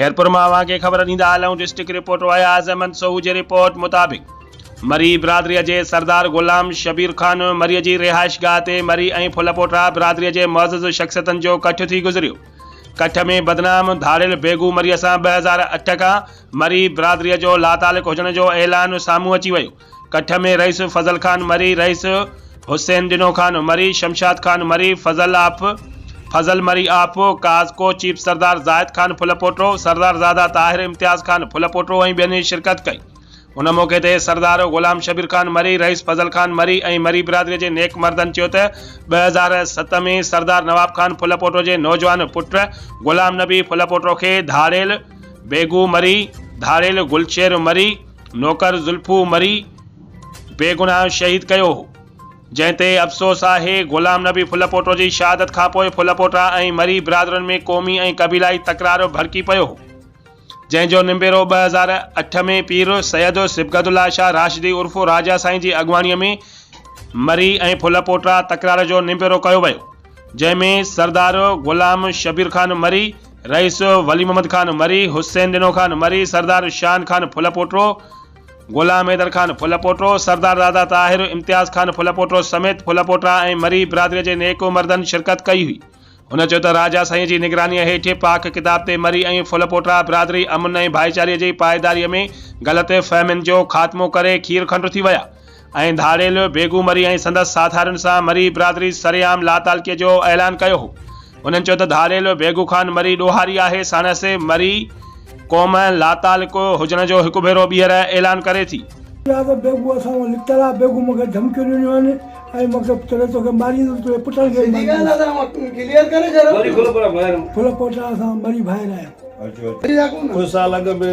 خيرپور مان اوهان کي خبر ڏيندا هلون ڊسٽرڪٽ رپورٽر اياز احمد سوهو جي رپورٽ مطابق مري برادري جي سردار غلام شبير خان مري جي رهائشگاهه تي مري ۽ ڦلپوٽرا برادري جي معزز شخصيتن جو ڪٺ ٿي گذريو ڪٺ ۾ بدنام ڌاڙيل بيگو مري سان ٻه هزار اٺ کان مري برادري جو لاتعلق هجڻ جو اعلان سامهون اچي ويو ڪٺ ۾ رئيس فضل خان مري، رئيس حسين ڏنو خان مري، شمشاد خان مري، فضل آپ، فضل مري آپ، ڪاز ڪو چيف سردار زاهد خان ڦل پوٽو، سردار زاده طاهر امتياز خان ڦل پوٽو ۽ ٻين شرڪت ڪئي. ان موقعي تي سردار غلام شبير خان مري، رئيس فضل خان مري ۽ مري برادري جي نيڪ مردن چيو ته ٻه هزار ست ۾ سردار نواب خان ڦل پوٽو جي نوجوان پٽ غلام نبي ڦل پوٽو کي ڌاڙيل بيگو مري، ڌاڙيل گلشير مري، نوڪر زلفو مري بيگناهه شهيد ڪيو هو، جنهن تي افسوس آهي. غلام نبي ڦلپوٽو جي شهادت کانپوء ڦلپوٽا ۽ مري برادرن ۾ قومي ۽ قبيلائي تڪرار ڀڙڪي پيو هو، جنهن جو نبيرو ٻه هزار اٺ ۾ پير سيد صبغت الله شاهه راشدي عرف راجا سائين جي اڳواڻيء ۾ مري ۽ ڦلپوٽا تڪرار جو نبيرو ڪيو ويو. جنهن ۾ سردار غلام شبير خان مري، رئيس ولي محمد خان مري، حسين ڏنو خان مري، سردار شان خان ڦل پوٽو، غلام حيدر خان ڦل پوٽو، سردار راضا طاهر، امتياز خان ڦل پوٽو سميت ڦل پوٽا ۽ مري برادريء جي نيڪ مردن شرڪت ڪئي هئي. هن چيو ته راجا سائينء جي نگرانيء هيٺ پاڪ ڪتاب تي مري ۽ ڦل پوٽا برادري امن ۽ ڀائيچاري جي پائيداريء ۾ غلط فهمين جو خاتمو ڪري کير کنڊ ٿي ويا. ۽ ڌاڙيل بيگو مري ۽ سندس ساٿارين سان مري برادري سرعام لاتعلقي جو اعلان ڪيو هو. انهن چيو ته ڌاڙيل بيگو خان مري ڏوهاري آهي ساڻس مري قوم لاتعلقو هجڻ جو هڪ ڀيرو ٻيهر اعلان ڪري ٿي. چيا ته بيگو اسان کان لڪتل آهي، بيگو مون کي ڌمڪيون ڏنيون آهن ۽ مون کي چري توکي ماريندس تنهنجي پٽن کي به ماريندس. ڦل پوٽا اسان مري ڀائر آهيون. ڪجهه سال اڳ ۾